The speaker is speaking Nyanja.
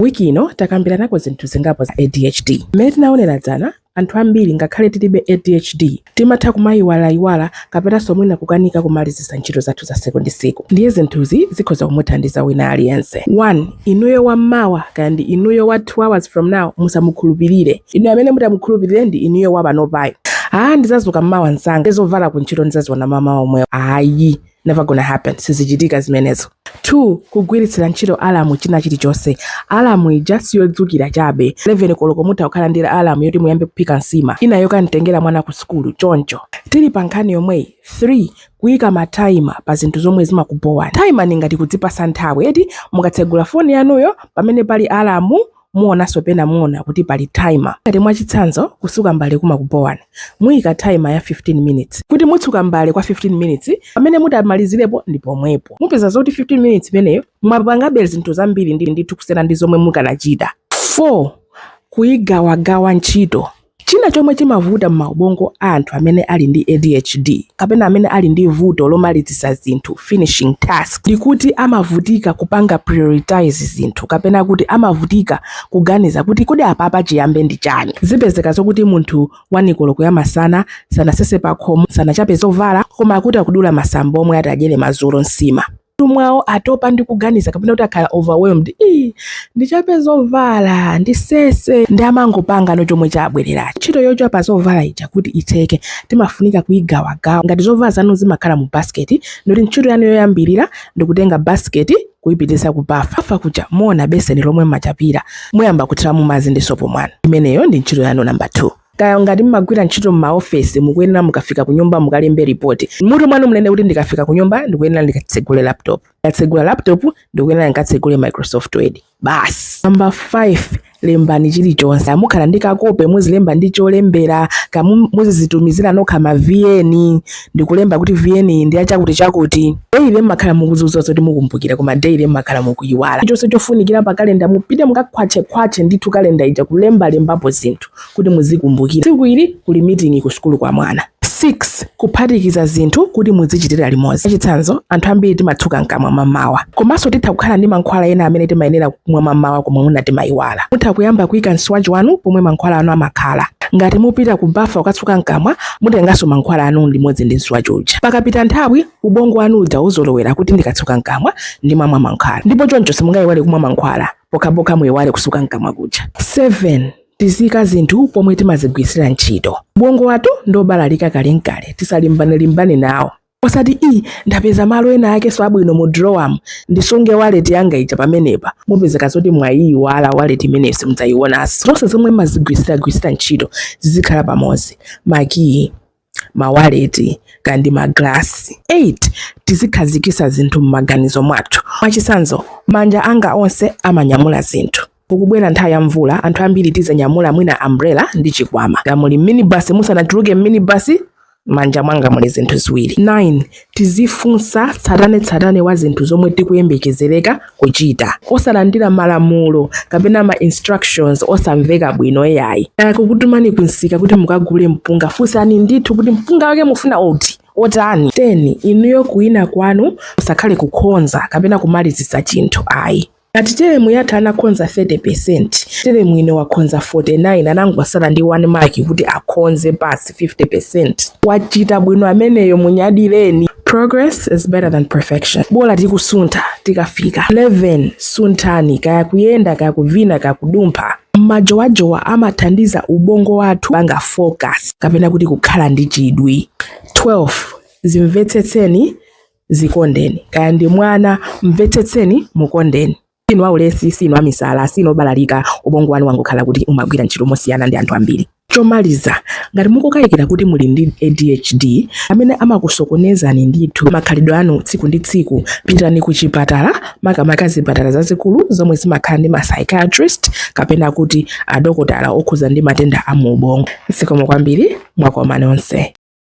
Wiki ino takambiranako zinthu zingapo za ADHD. Mmene tinaonera dzana, anthu ambiri ngakhale tilibe ADHD, timatha kumayiwalayiwala kapenanso mwina kukanika kumalizitsa ntchito zathu za tsiku ndi tsiku. Ndiye zinthuzi zikhoza kumuthandiza wina aliyense. 1, Inuyo wa mmawa kaya ndi inuyo wa 2 hours from now musamukhulupirire. Inu amene mutamukhulupirire ndi inuyo wa panopayu. Aa ndidzazuka mmawa msanga, zovala kuntchito ndidzaziona mamawa omwewo. Ayi. never gonna happen sizichitika zimenezo 2 kugwiritsira ntchito alamu china chilichonse alamu ija siyodzukira chabe 11 koloko mutha kukhala ndi alamu yoti muyambe kuphika nsima ina yokanitengera mwana ku sukulu choncho tili pa nkhani yomweyi 3 kuyika mataima pa zinthu zomwe zimakubowa taima ni ngati kudzipasa nthawi eti mukatsegula foni yanuyo pamene pali alamu Muonanso pena muona kuti pali timer. Ngati mwachitsanzo kusuka mbale kumakubhowani, muika timer ya 15 minutes kuti mutsuka mbale kwa 15 minutes pamene mutamalizirepo ndi pomwepo. Mupeza zoti 15 minutes imeneyo mwapangabe zinthu zambiri ndithu kusiyana ndi zomwe mukanachita 4 Kuigawagawa ntchito. China chomwe chimavuta m'maubongo a anthu amene ali ndi ADHD kapena amene ali ndi vuto lomalizitsa zinthu, finishing task, ndi kuti amavutika kupanga prioritize zinthu kapena kuti amavutika kuganiza kuti kodi apapa chiyambe ndi chani. Zipezeka zokuti munthu 1 koloko ya masana sanasese pakhomo, sanachape zovala koma akuti akudula masamba omwe ati adyere madzulo, nsima. m'mutu mwawo atopa ndi kuganiza kapena kuti akhala overwhelmed ii ndichape zovala ndisese ndi amangopangano chomwe chabwerera ntchito yochapa zovala ija kuti itheke timafunika kuyigawagawa ngati zovala zanu zimakhala mu basiketi nde kuti ntchito yanu yoyambirira ndikutenga basiketi kuyipitisa ku bafa kuja muona beseni lomwe mmachapira muyamba kuthiramo madzi ndi sopo mwanu imeneyo ndi ntchito yanu namba 2 Kaya ngati mmagwira ntchito m'maofesi, mukuyenera mukafika kunyumba mukalembe lipoti. M'mutu mwanu munene kuti ndikafika kunyumba ndikuyenera ndikatsegule laptop. Ndikatsegula laptop ndikuyenera ndikatsegule Microsoft Word. Basi. Number 5, Lembani chilichonse. Kaya mukhala ndi kakope muzilemba ndi cholembera, kaya mu- muzizitumizira nokha ma VN ndikulemba kuti VN iyi ndi yachakuti chakuti. Daily mmakhala mukuziuza zoti mukumbukira koma daily mmakhala mukuyiwala. Chonse chofunikira pa kalenda mupite mukakhwatchekhwatche ndithu kalenda ija kulembalembapo zinthu. kuti muzikumbukira tsiku ili kuli miting'i ku sukulu kwa mwana. 6 kuphatikiza zinthu kuti muzichitira limodzi. Mwachitsanzo, anthu ambiri timatsuka mkamwa mammawa. Komanso titha kukhala ndi mankhwala ena amene timayenera kumwa mammawa koma mwina timayiwala. Mutha kuyamba kuika mswachi wanu pomwe mankhwala anu amakhala. Ngati mupita ku bafa kukatsuka mkamwa, mutenganso mankhwala anu limodzi ndi mswachi uja. Pakapita nthawi, ubongo wanu uja uzolowera kuti ndikatsuka mkamwa ndimamwa mankhwala, ndipo choncho simungayiwale kumwa mankhwala. pokhapokha muiwale kusuka mkamwa kuja 7 tizika zinthu pomwe timazigwiritsira ntchito ubongo wathu ndiobalalika kalenkale tisalimbanelimbane nawo osati i ndapeza malo ena akeso abwino mu drowamu ndisunge waleti yanga ija pamenepa mupezeka zoti mwayiiwala waleti imeneyo simudzayiwonanso zonse zomwe mumazigwirisiragwirisira ntchito zizikhala pamodzi makiyi mawaleti kaya ndi magalasi 8 tizikhazikisa zinthu m'maganizo mwathu mwachitsanzo manja anga onse amanyamula zinthu kukubwera nthawi ya mvula anthu ambiri tizanyamula mwina umbrella ndi chikwama ngati muli minibasi musanatuluke minibasi manja mwanga muli zinthu ziwiri 9 Tizifunsa tsatanetsatane wa zinthu zomwe tikuyembekezereka kuchita. Osalandira malamulo kapena ma instructions osamveka bwino iyayi. Akutumani kunsika kuti mukagule mpunga, funsani ndithu kuti mpunga wake mufuna ot otani? 10, Inuyo kuwina kwanu kusakhale kukhonza kapena kumalizitsa chinthu ayi. Ngati telemu yatha anakhonza 30%, telemu ino wakhonza 49 anangosala ndi 1 mark kuti akhonze pass 50%. Wachita bwino ameneyo munyadireni. Progress is better than perfection. Bola tikusuntha tikafika 11 sunthani kaya kuyenda kaya kuvina kaya kudumpha. Majowajowa amathandiza ubongo wathu kupanga focus kapena kuti kukhala ndi chidwi. 12 zimvetsetseni zikondeni kaya ndi mwana mvetsetseni mukondeni sinu aulesi sinu amisala sinu obalalika ubongo wanu wangokhala kuti umagwira ntchito mosiyana ndi anthu ambiri chomaliza ngati mukukayikira kuti muli ndi adhd amene amakusokonezani ndithu makhalidwe anu tsiku ndi tsiku pitani ku chipatala makamaka zipatala zazikulu zomwe zimakhala ndi ma psychiatrist kapena kuti adokotala okhuza ndi matenda a mu ubongo zikomo kwambiri mwakoma nonse